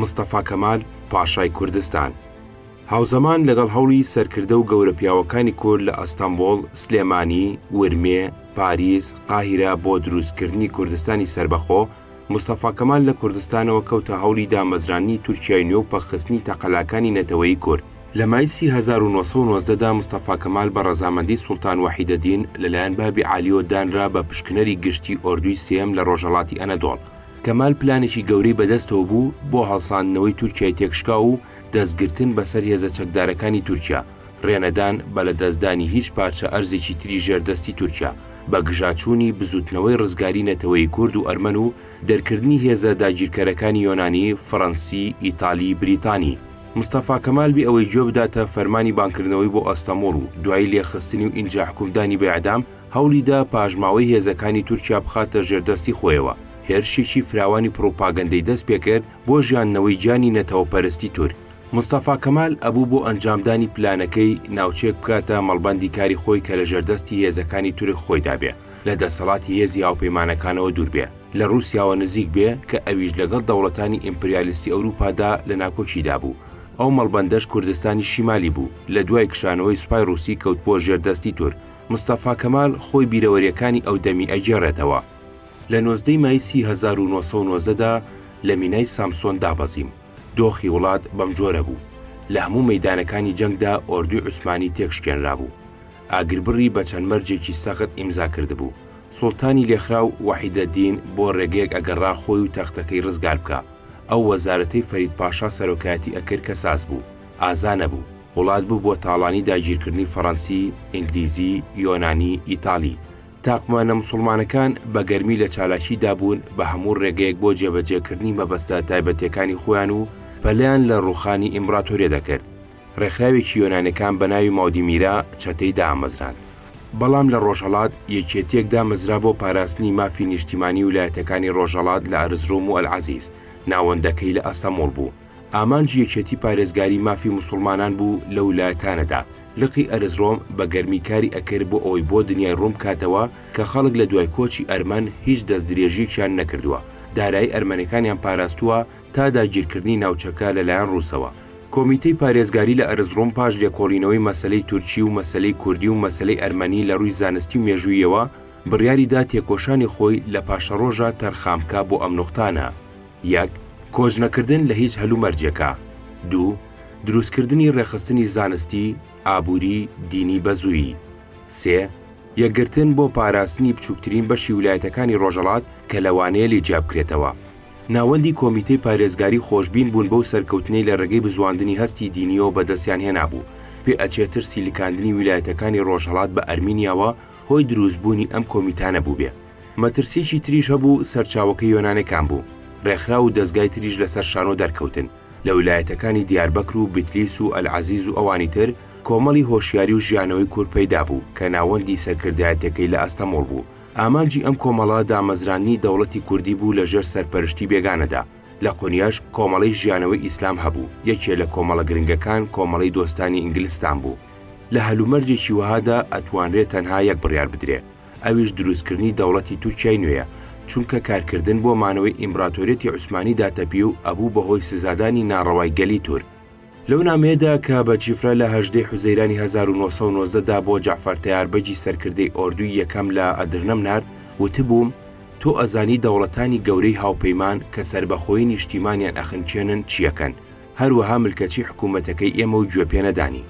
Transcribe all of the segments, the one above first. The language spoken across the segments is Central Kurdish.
مستەفا کەمال پاشای کوردستان هاوزەمان لەگەڵ هەوڵی سەرکردە و گەورە پیاوەکانی کورد لە ئەستەنبوڵ، سلێمانی، ورمێ، پاریس، قاهیرە بۆ دروستکردنی کوردستانی سەربەخۆ، مستەفا کەمال لە کوردستانەوە کەوتە هەوڵی دامەزراندنی تورکیای نوێ و پەکخستنی تەقەلاکانی نەتەوەیی کورد. لە مایسی هەزار و نۆ سەد و نۆزدە دا مستەفا کەمال بە ڕەزامەندی سوڵتان وەحیدەدین لەلایەن بابی عالیەوە دانرا بە پشکنەری گشتی ئۆردووی سێیەم لە ڕۆژهەڵاتی ئەنەدۆڵ. کەمال پلانێکی گەورەی بەدەستەوە بوو بۆ هەڵساندنەوەی تورکیای تێکشکاو و دەستگرتن بەسەر هێزە چەکدارەکانی تورکیا، رێنەدان بە لەدەستدانی هیچ پارچە ئەرزێکی تری ژێر دەستی تورکیا، بەگژاچوونی بزووتنەوەی رزگاری نەتەوەیی کورد و ئەرمەن و دەرکردنی هێزە داگیرکەرەکانی یۆنانی، فڕەنسی، ئیتالی، بریتانی. مستەفا کەمال بێ ئەوەی گوێ بداتە فەرمانی بانگکردنەوەی بۆ ئەستەموڵ و دوایی لێخستنی و ئینجا حکومدانی بە ئیعدام، هەوڵی دا پاشماوەی هێزەکانی تورکیا بخاتە ژێردەستی خۆیەوە، هێرشێکی فراوانی پڕوپاگەندەی دەست پێکرد بۆ ژیاندنەوەی گیانی نەتەوەپەرستی تورک. مستەفا کەمال ئەبوو بۆ ئەنجامدانی پلانەکەی، ناوچەیەک بکاتە مەڵبەندی کاری خۆی کە لە ژێردەستی هێزەکانی تورک خۆیدا بێ، لە دەسەڵاتی هێزی هاوپەیمانەکانەوە دوور بێ، لە ڕووسیاوە نزیک بێ کە ئەویش لەگەڵ دەوڵەتانی ئیمپریالیستی ئەوروپادا لە ناکۆکیدا بوو، ئەو مەڵبەندەش کوردستانی شیمالی بوو، لە دوای کشانەوەی سوپای ڕووسی کەوت بۆ ژێردەستی تورک، مستەفا کەمال خۆی بیرەوەریەکانی ئەودەمی ئەگێڕێتەوە، لە نۆزدە ی مایسی هەزار و نۆ سەد و نۆزدە دا لە مینای سامسۆن دابەزیم، دۆخی وڵات بەم جۆرە بوو، لە هەموو مەیدانەکانی جەنگدا ئۆردوی عوسمانی تێکشکێنرابوو، ئاگربڕی بە چەند مەرجێکی سەخت ئیمزا کردبوو، سوڵتانی لێخراو وەحیدەدین بۆ ڕێگەیەک ئەگەڕا خۆی و تەختەکەی ڕزگار بکا، ئەو وەزارەتەی فەرید پاشا سەرۆکایەتی ئەکرد کە ساز بوو، ئازا نەبوو. وڵات ببووە تاڵانی داگیرکردنی فەڕەنسی، ئینگلیزی، یۆنانی، ئیتاڵی. تاقمانە موسوڵمانەکان بە گەرمی لە چالاکی دابوون بە هەموو ڕێگەیەک بۆ جێبەجێکردنی مەبەستە تایبەتیەکانی خۆیان و پەلیان لە ڕووخانی ئیمبڕاتۆریە دەکرد. ڕێکخراوێکی یۆنانەکان بە ناوی ماودیمیرا چەتەی دامەزراند. بەڵام لە ڕۆژهەڵات یەکێتیەک دامەزرا بۆ پاراستنی مافی نیشتیمانی ولایەتەکانی ڕۆژهەڵات لە ئەرزروم و ئەلعەزیز، ناوەندەکەی لە ئەستەموڵ بوو. ئامانجی یەکێتی پارێزگاری مافی موسوڵمانان بوو لەو لایتانەدا، لقی ئەرزرۆم بە گەرمی کاری ئەکرد بۆ ئەوەی بۆ دنیای ڕوون بکاتەوە کە خەڵک لە دوای کۆچی ئەرمەن هیچ دەست درێژیەکیان نەکردووە دارایی ئەرمەنەکانیان پاراستووە تا داگیرکردنی ناوچەکە لە لایەن ڕووسەوە. کۆمیتەی پارێزگاری لە ئەرزڕوم پاش لێکۆڵینەوەی مەسەلەی تورکی و مەسەلەی کوردی و مەسەلەی ئەرمەنی لە ڕووی زانستی و مێژوویەوە بڕیاری دا تێکۆشانی خۆی لە پاشەڕۆژە تەرخان بکا بۆ ئەم نوقتانە. یەک، کۆژنەکردن لە هیچ هەلومەرجێکا. دوو، دروستکردنی ڕێکخستنی زانستی، ئابووری، دینی بەزوویی. سێ، یەکگرتن بۆ پاراستنی بچووکترین بەشی ولایەتەکانی ڕۆژهەڵات کە لەوانەیە لێ جیابکرێتەوە. ناوەندی کۆمیتەی پارێزگاری خۆشبین بوون بەو سەرکەوتنەی لە ڕێگەی بزواندنی هەستی دینییەوە بەدەستیان هێنابوو، پێ ئەچێ ترسی لکاندنی ولایەتەکانی ڕۆژهەڵات بە ئەرمینیاوە هۆی دروستبوونی ئەم کۆمیتانە بووبێ. مەترسیەکی تریش هەبوو سەرچاوەکە یۆنانەکان بوو ڕێکخراو و دەزگای تریش لەسەر شانۆ دەرکەوتن لە ولایەتەکانی دیاربەکر و بتلیس و ئەلعەزیز و ئەوانی تر کۆمەڵی هۆشیاری و ژیانەوەی کورد پەیدا بوو کە ناوەندی سەرکردایەتەکەی لە ئەستەموڵ بوو ئامانجی ئەم کۆمەڵە دامەزراندنی دەوڵەتی کوردی بوو لە ژێر سەرپەرشتی بێگانەدا لە قۆنیاش کۆمەڵەی ژیانەوەی ئیسلام هەبوو یەکێ لە کۆمەڵە گرنگەکان کۆمەڵەی دۆستانی ئینگلستان بوو لە هەلومەرجێکی وەهادا ئەتوانرێ تەنها یەک بڕیار بدرێ ئەویش دروستکردنی دەوڵەتی تورکیای نوێیە، چونکە کارکردن بۆ مانەوەی ئیمبراتۆریەتی عوسمانی داتەپی و ئەبوو بە هۆی سزادانی ناڕەوای گەلی تورک. لەو نامەیەدا کە بە چیفرە لە هەژدە ی حوزەیرانی هەزار و نۆ سەد و نۆزدە دا بۆ جەعفەر تەیار بەگی سەرکردەی ئۆردووی یەکەم لە ئەدرنەم نارد، وتبووم، تۆ ئەزانی دەوڵەتانی گەورەی هاوپەیمان کە سەربەخۆیی نیشتیمانیان ئەخنکێنن چیەکەن، هەروەها ملکەچی حکوومەتەکەی ئێمە و گوێ پێنەدانی.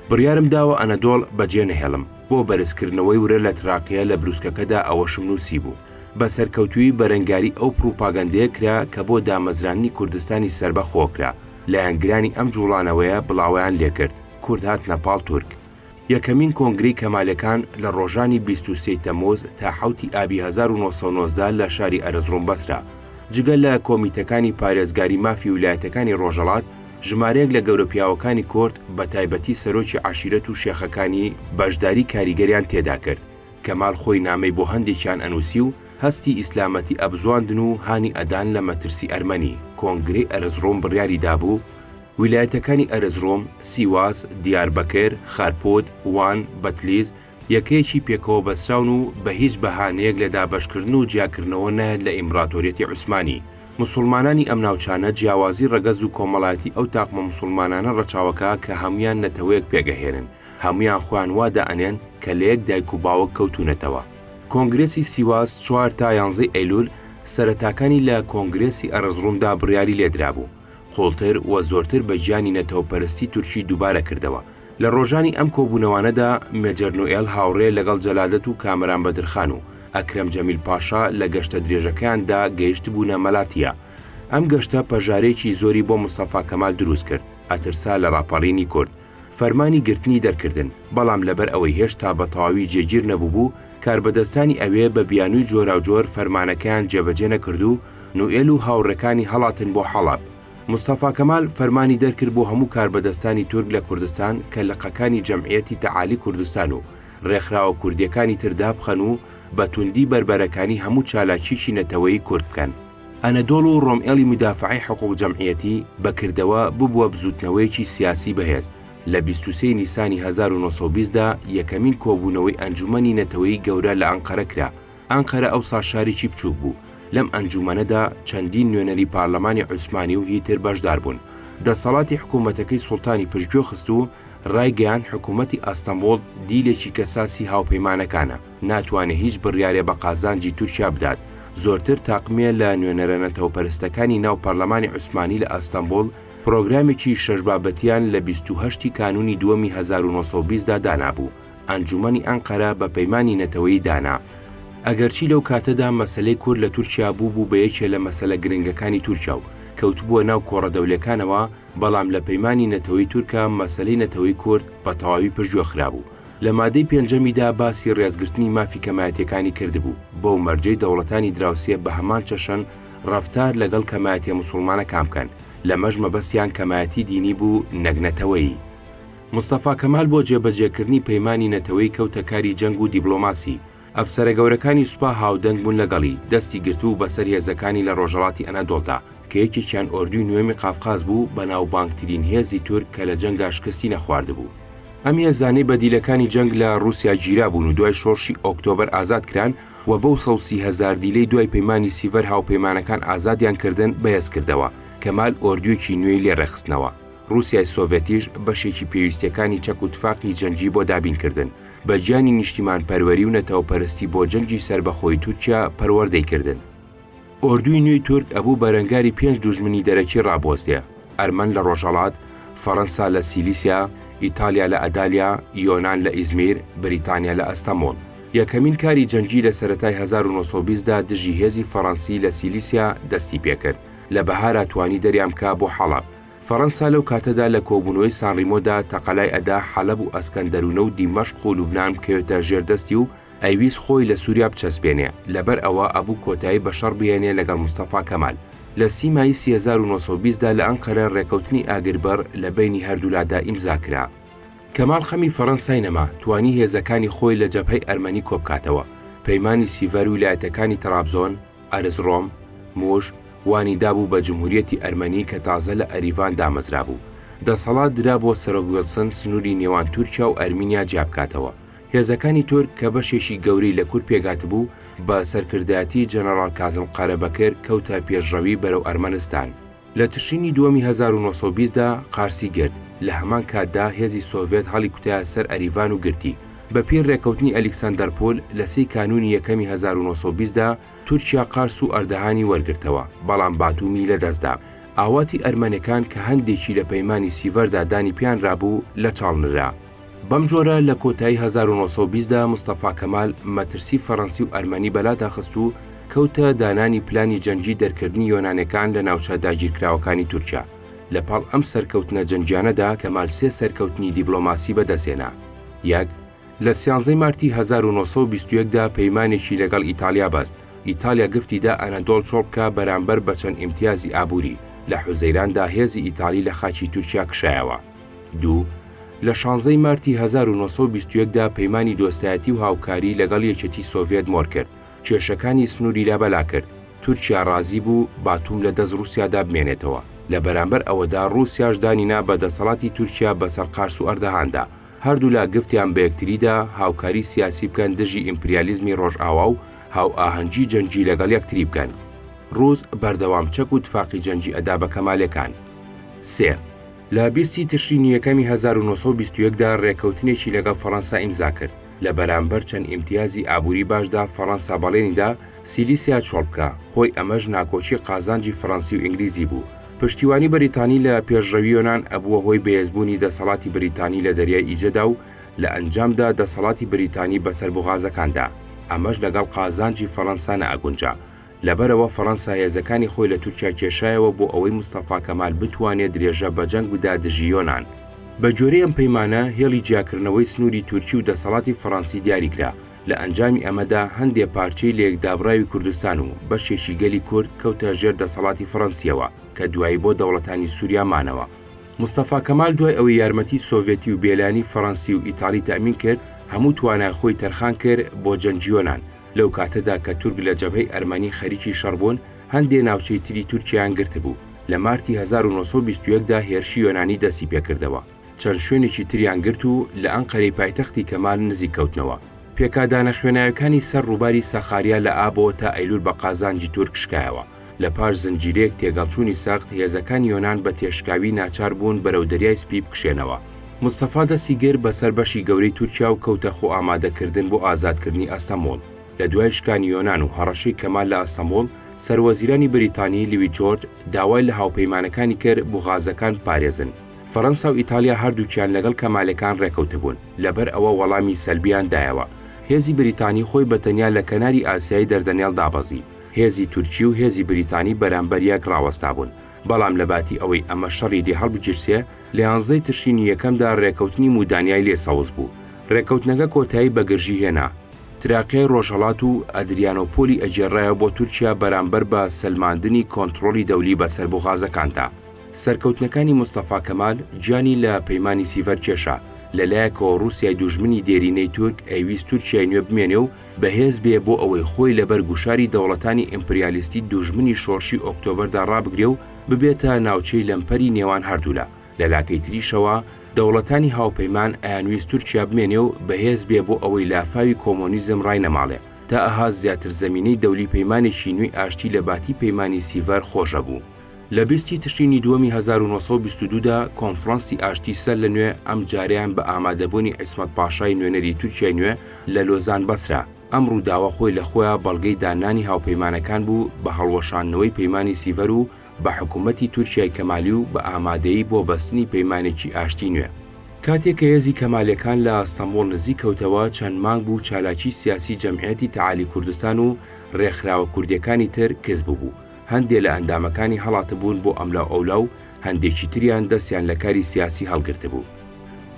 بڕیارم داوە ئەنەدۆڵ بەجێ نەهێڵم، بۆ بەرزکردنەوەی ورە لە تراقیە لە برووسکەکەدا ئەوەشم نووسیبوو، بە سەرکەوتوویی بەرەنگاری ئەو پڕوپاگەندەیە کرا کە بۆ دامەزراندنی کوردستانی سەربەخۆ کرا، لایەنگرانی ئەم جووڵانەوەیە بڵاوەیان لێ کرد، کورد هاتنە پاڵ تورک. یەکەمین کۆنگرەی کەمالەکان لە ڕۆژانی 23 ی تەموز تا حەوتی ئابی 1990 لە شاری ئەرزڕوم بەسرا. جگە لە کۆمیتەکانی پارێزگاری مافی ولایەتەکانی ڕۆژەڵات، ژمارەیەک لە گەورە پیاوەکانی کۆرد بە تایبەتی سەرۆکی عەشیرەت و شێخەکانی بەشداری کاریگەریان تێدا کرد. کەمال خۆی نامەی بۆ هەندێکیان ئەنووسی و هەستی ئیسلامەتی ئەبزواندن و هانی ئەدان لە مەترسی ئەرمەنی. کۆنگرەی ئەرزڕوم بڕیاری دابوو، ویلایەتەکانی ئەرزڕۆم، سیواس، دیاربەکر، خەرپوت، وان، بەتلیز، یەکەیەکی پێکەوە بەستراون و بە هیچ بەهانەیەک لە دابەشکردن و جیاکردنەوە نایەت لە ئیمبڕاتۆریەتی عوسمانی. موسوڵمانانی ئەم ناوچانە جیاوازی ڕەگەز و کۆمەڵایەتی ئەو تاقمە موسوڵمانانە ڕەچاوەکە کە هەموویان نەتەوەیەک پێگەهێنن، هەموویان خۆیان وا دائەنێن کە لە یەک دایک و باوک کەوتوونەتەوە. کۆنگرێسی سیواس چوار تا یانزەی ئەیلول سەرەتاکانی لە کۆنگرێسی ئەرزڕومدا بڕیاری لێدرابوو. قوڵتر و زۆرتر بە گیانی نەتەوەپەرستی تورکی دووبارە کردەوە. لە ڕۆژانی ئەم کۆبوونەوانەدا مێجەر نوئێل هاوڕێ لەگەڵ جەلادەت و کامەران بەدرخان و ئەکرەم جەمیل پاشا لە گەشتە درێژەکەیان دا گەیشتبوونە مەلاتیا. ئەم گەشتە پەژارەیەکی زۆری بۆ مستەفا کەمال دروست کرد، ئەترسا لە ڕاپەڕینی کورد. فەرمانی گرتنی دەرکردن، بەڵام لەبەر ئەوەی هێشتا بە تەواوی جێگیر نەبووبوو، کاربەدەستانی ئەوێ بە بیانووی جۆراوجۆر فەرمانەکەیان جێبەجێ نەکرد و نوئێل و هاوڕێکانی هەڵاتن بۆ حەڵەب. مستەفا کەمال فەرمانی دەرکرد بۆ هەموو کاربەدەستانی تورک لە کوردستان کە لقەکانی جەمعیەتی تەعالی کوردستان و رێکخراوە کوردییەکانی تر دابخەن و بە توندی بەربەرەکانی هەموو چالاکییەکی نەتەوەیی کورد بکەن. ئەنەدۆڵ و ڕۆمئێڵی مودافەعەی حقووق جەمعیەتی بە کردەوە ببووە بزووتنەوەیەکی سیاسی بەهێز، لە بیست و سێ ی نیسانی هەزار و نۆ سەد و بیست دا یەکەمین کۆبوونەوەی ئەنجوومەنی نەتەوەیی گەورە لە ئەنقەرە کرا، ئەنقەرە ئەوسا شارێکی بچووک بوو، لەم ئەنجوومەنەدا چەندین نوێنەری پارلەمانی عوسمانی و هی تر بەشدار بوون. دەسەڵاتی حکوومەتەکەی سوڵتانی پشتگوێ خست و ڕایگەیاند حکوومەتی ئەستەنبوڵ دیلێکی کەساسی هاوپەیمانەکانە. ناتوانێ هیچ بڕیارێ بە قازانجی تورکیا بدات، زۆرتر تاقمێ لە نوێنەرە نەتەوەپەرستەکانی ناو پەرلەمانی عوسمانی لە ئەستەنبوڵ پرۆگرامێکی شەش بابەتیان لە بیست و هەشت ی کانوونی دووەمی هەزار و نۆ سەد و بیست دا دانابوو ئەنجوومەنی ئەنقەرە بە پەیمانی نەتەوەیی دانا ئەگەرچی لەو کاتەدا مەسەلەی کورد لە تورکیا بووبوو بە یەکێ لە مەسەلە گرنگەکانی تورکیا و کەوتبووە ناو کۆڕە دەولێکانەوە بەڵام لە پەیمانی نەتەوەی تورکا مەسەلەی نەتەوەی کورد بە تەواوی پشتگوێ خرابوو لە مادەی پێنجەمیدا باسی ڕێزگرتنی مافی کەمایەتیەکانی کردبوو، بەو مەرجەی دەوڵەتانی دراوسێ بە هەمان چەشن ڕەفتار لەگەڵ کەمایەتیە موسوڵمانەکان بکەن، لەمەش مەبەستیان کەمایەتی دینی بوو نەک نەتەوەیی. مستەفا کەمال بۆ جێبەجێکردنی پەیمانی نەتەوەیی کەوتە کاری جەنگ و دیبڵۆماسی، ئەفسەرە گەورەکانی سوپا هاودەنگ بوون لەگەڵی، دەستی گرتبوو بەسەر هێزەکانی لە ڕۆژهەڵاتی ئەنادۆڵدا، کە یەکێکیان ئۆردووی نۆیەمی قافقاز بوو، بەناوبانگترین هێزی تورک کە لە جەنگدا شکستی نەخواردبوو. ئەم هێزانەی بە دیلەکانی جەنگ لە ڕووسیا گیرابوون و دوای شۆڕشی ئۆکتۆبەر ئازاد کران و بەو سەد و سی هەزار دیلەی دوای پەیمانی سیڤەر هاوپەیمانەکان ئازادیان کردن بەهێز کردەوە، کەمال ئۆردوویەکی نوێی لێ ڕێکخستنەوە. ڕووسیای سۆڤێتیش بەشێکی پێویستییەکانی چەک و تفاقی جەنگی بۆ دابین کردن. بە گیانی نیشتیمانپەروەری و نەتەوەپەرستی بۆ جەنگی سەربەخۆی تورکیا پەروەردەی کردن. ئۆردووی نوێی تورک ئەبوو بەرەنگاری پێنج دوژمنی دەرەکی ڕابوەستێ، ئەرمەن لە ڕۆژهەڵات، فەرەنسا لە سیلیسیا، ئیتالیا لە ئەدالیا، یۆنان لە ئیزمیر، بریتانیا لە ئەستەموڵ. یەکەمین کاری جەنگی لە سەرەتای هەزار و نۆ سەد و بیست دا دژی هێزی فەرەنسی لە سیلیسیا دەستی پێکرد، لە بەهارا توانی دەریان بکا بۆ حەڵەب، فەرەنسا لەو کاتەدا لە کۆبوونەوەی سانڕیمۆدا تەقەلای ئەدا حەلەب و ئەسکەندەروونە و دیمەشق و لوبنان بکەوێتە ژێر دەستی و ئەیویست خۆی لە سووریا بچەسپێنێ، لەبەر ئەوە ئەبوو کۆتایی بە شەڕ بهێنێ لەگەڵ مستەفا کەمال. لە سی مایی سی هەزار و نۆ سەد و بیست دا لە ئەنقەرە رێکەوتنی ئاگربڕ لە بەینی هەردوولادا ئیمزا کرا. کەمال خەمی فەرەنسای نەما، توانی هێزەکانی خۆی لە جەبهەی ئەرمەنی کۆبکاتەوە، پەیمانی سیڤەر ویلایەتەکانی تەڕابزۆن، ئەرزڕۆم، موش، وانی دابوو بە جمهوریەتی ئەرمەنی کە تازە لە ئەریڤان دامەزرابوو. دەسەڵات درا بۆ سەرۆک ویڵسن سنووری نێوان تورکیا و ئەرمینیا جیابکاتەوە. هێزەکانی تورک کە بەشێکی گەورەی لە کورد پێکهاتبوو، بە سەرکردایەتی جەنەڕاڵ کازم قارەبەکر کەوتە پێشڕەوی بەرەو ئەرمەنستان. لە تشرینی دووەمی هەزار و نۆ سەد و بیست دا قارسی گرت، لە هەمان کاتدا هێزی سۆڤێت هەڵیکوتایە سەر ئەریڤان و گرتی. بە پێی ڕێکەوتنی ئەلیکسەندەرپۆل لە سی کانوونی یەکەمی هەزار و نۆ سەد و بیست دا، تورکیا قارس و ئەردەهانی وەرگرتەوە، بەڵام باتومی لەدەست دا. ئاواتی ئەرمەنەکان کە هەندێکی لە پەیمانی سیڤەردا دانی پێیان رابوو، لە چاڵ نرا. بەم جۆرە لە کۆتایی هەزار و نۆ سەد و بیست دا مستەفا کەمال مەترسی فەرەنسی و ئەرمەنی بەلا داخست و کەوتە دانانی پلانی جەنگی دەرکردنی یۆنانەکان لە ناوچە داگیرکراوەکانی تورکیا. لە پاڵ ئەم سەرکەوتنە جەنگیانەدا کەمال سێ سەرکەوتنی دیبلۆماسی بە دەست هێنا. یەک، لە سیانزەی مارتی هەزار و نۆ سەد و بیست و یەک دا پەیمانێکی لەگەڵ ئیتالیا بەست، ئیتالیا گفتی دا ئەنەدۆڵ چۆڵ بکا بەرامبەر بە چەند ئیمتیازی ئابووری، لە حوزەیران دا هێزی ئیتالی لە خاکی تورکیا کشایەوە. دوو، لە شانزەی مارتی هەزار و نۆ سەد و بیست و یەک دا پەیمانی دۆستایەتی و هاوکاری لەگەڵ یەکێتی سۆڤێت مۆر کرد، کێشەکانی سنووری لابەلا کرد، تورکیا ڕازی بوو باتوم لە دەست ڕووسیادا بمێنێتەوە، لە بەرامبەر ئەوەدا ڕووسیاش دانی نا بە دەسەڵاتی تورکیا بەسەر قارس و ئەردەهاندا، هەردوولا گفتیان بە یەکتریدا هاوکاری سیاسی بکەن دژی ئیمپریالیزمی ڕۆژئاوا و هاوئاهەنگی جەنگی لەگەڵ یەکتری بکەن. ڕووس بەردەوام چەک و تفاقی جەنگی ئەدا بە کەمالەکان. سێ. لە بیست ی تشرینی یەکەمی هەزار و نۆ سەد و بیست و یەک دا رێککەوتنێکی لەگەڵ فەڕەنسا ئیمزا کرد، لە بەرامبەر چەند ئیمتیازی ئابووری باشدا فەڕەنسا بەڵێنی دا سیلیسیا چۆڵ بکا، هۆی ئەمەش ناکۆکی قازانجی فەڕەنسی و ئینگلیزی بوو. پشتیوانی بەریتانی لە پێشڕەوی یۆنان ئەبووە هۆی بەێزبوونی دەسەڵاتی بریتانی لە دەریای ئیجەدا و لە ئەنجامدا دەسەڵاتی بریتانی بەسەر بوغازەکاندا ئەمەش لەگەڵ قازانجی فەڕەنسا نەئەگونجا لەبەرئەوە فەرەنسا هێزەکانی خۆی لە تورکیا کێشایەوە بۆ ئەوەی مستەفا کەمال بتوانێ درێژە بە جەنگ بدا دژی یۆنان. بە گوێرەی ئەم پەیمانە، هێڵی جیاکردنەوەی سنووری تورکی و دەسەڵاتی فەرەنسی دیاری کرا، لە ئەنجامی ئەمەدا هەندێ پارچەی لەیەکدابڕاوی کوردستان و بەشێکی گەلی کورد کەوتە ژێر دەسەڵاتی فەرەنسییەوە کە دوایی بۆ دەوڵەتانی سووریا مانەوە. مستەفا کەمال دوای ئەوەی یارمەتی سۆڤێتی و بێلانی فەرەنسی و ئیتاڵی تەئمین کرد، هەموو توانای خۆی تەرخان کرد بۆ جەنگی یۆنان، لەو کاتەدا کە تورک لە جەبهەی ئەرمەنی خەریکی شەڕ بوون، هەندێ ناوچەی تری تورکیایان گرتبوو. لە مارتی هەزار و نۆ سەد و بیست و یەک دا هێرشی یۆنانی دەستی پێ کردەوە. چەند شوێنێکی تریان گرت و لە ئەنقەرەی پایتەختی کەمال نزیک کەوتنەوە. پێکادانە خوێناویەکانی سەر ڕووباری ساخاریا لە ئابەوە تا ئەیلول بە قازانجی تورک شکایەوە. لە پاش زنجیرەیەک تێگەڵچوونی سەخت، هێزەکانی یۆنان بە تێشکاوی ناچار بوون بەرەو دەریای سپی بکشێنەوە. مستەفا دەستی گرت بەسەر بەشی گەورەی تورکیا و کەوتە خۆئامادەکردن بۆ ئازادکردنی ئەستەموڵ. لە دوای شکانی یۆنان و هەڕەشەی کەمال لە ئەستەموڵ، سەروەزیرانی بریتانی، لوی جۆرج، داوای لە هاوپەیمانەکانی کرد بوغازەکان بپارێزن. فەرەنسا و ئیتالیا هەردووکیان لەگەڵ کەمالەکان ڕێکەوتبوون، لەبەر ئەوە وەڵامی سەلبیان دایەوە. هێزی بریتانی خۆی بە تەنیا لە کەناری ئاسیای دەردەنێڵ دابەزی. هێزی تورکی و هێزی بریتانی بەرامبەر یەک ڕاوەستابوون، بەڵام لەباتی ئەوەی ئەمە شەڕی لێ هەڵبگیرسێ، لە یانزەی تشرینی یەکەمدا ڕێکەوتنی مودانیای لێ سەوز بوو. ڕێکەوتنەکە کۆتایی بە گرژی هێنا. تراکیای ڕۆژهەڵات و ئەدریانۆپۆلی ئەگێڕرایەوە بۆ تورکیا بەرامبەر بە سەلماندنی کۆنتڕۆڵی دەولی بەسەر بوغازەکاندا. سەرکەوتنەکانی مستەفا کەمال گیانی لە پەیمانی سیڤەر کێشا، لە لایەکەوە ڕووسیای دوژمنی دێرینەی تورک ئەیویست تورکیای نوێ بمێنێ و، بەهێز بێ بۆ ئەوەی خۆی لەبەر گوشاری دەوڵەتانی ئیمپریالیستی دوژمنی شۆڕشی ئۆکتۆبەردا ڕابگرێ و ببێتە ناوچەی لەمپەری نێوان هەردوولا، لە لاکەی تریشەوە دەوڵەتانی هاوپەیمان ئەیانویست تورکیا بمێنێ و بەهێز بێ بۆ ئەوەی لافاوی کۆمۆنیزم ڕاینەماڵێ، تا ئەها زیاتر زەمینەی دەولی پەیمانێکی نوێی ئاشتی لە باتی پەیمانی سیڤەر خۆش ئەبوو. لە بیست ی تشرینی دووەمی هەزار و نۆ سەد و بیست و دوو دا کۆنفرانسی ئاشتی سەر لە نوێ ئەم جارەیان بە ئامادەبوونی عیسمەت پاشای نوێنەری تورکیای نوێ لە لۆزان بەسرا. ئەم ڕووداوە خۆی لە خۆیا بەڵگەی داننانی هاوپەیمانەکان بوو بە هەڵوەشاندنەوەی پەیمانی سیڤەر و بە حکوومەتی تورکیای کەمالی و بە ئامادەیی بۆ بەستنی پەیمانێکی ئاشتی نوێ. کاتێ کە هێزی کەمالیەکان لە ئەستەمبوڵ نزیک کەوتەوە چەند مانگ بوو چالاکی سیاسی جەمعیەتی تەعالی کوردستان و ڕێکخراوە کوردیەکانی تر کز ببوو. هەندێ لە ئەندامەکانی هەڵاتبوون بۆ ئەملاوئەولا و هەندێکی تریان دەستیان لە کاری سیاسی هەڵگرتبوو.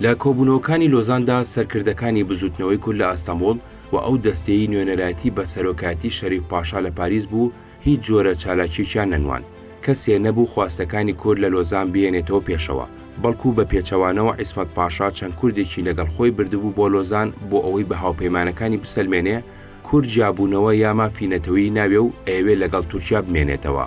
لە کۆبوونەوەکانی لۆزاندا سەرکردەکانی بزووتنەوەی کورد لە ئەستەمبوڵ و ئەو دەستەی نوێنەرایەتی بە سەرۆکایەتی شەریف پاشا لە پاریس بوو هیچ جۆرە چالاکییەکیان نەنواند. کەسێ نەبوو خواستەکانی کورد لە لۆزان بهێنێتەوە پێشەوە، بەڵکوو بە پێچەوانەوە عیسمەت پاشا چەند کوردێکی لەگەڵ خۆی بردبوو بۆ لۆزان بۆ ئەوەی بە هاوپەیمانەکانی بسەلمێنێ کورد جیابوونەوە یا مافی نەتەوەیی ناوێ و ئەیەوێ لەگەڵ تورکیا بمێنێتەوە.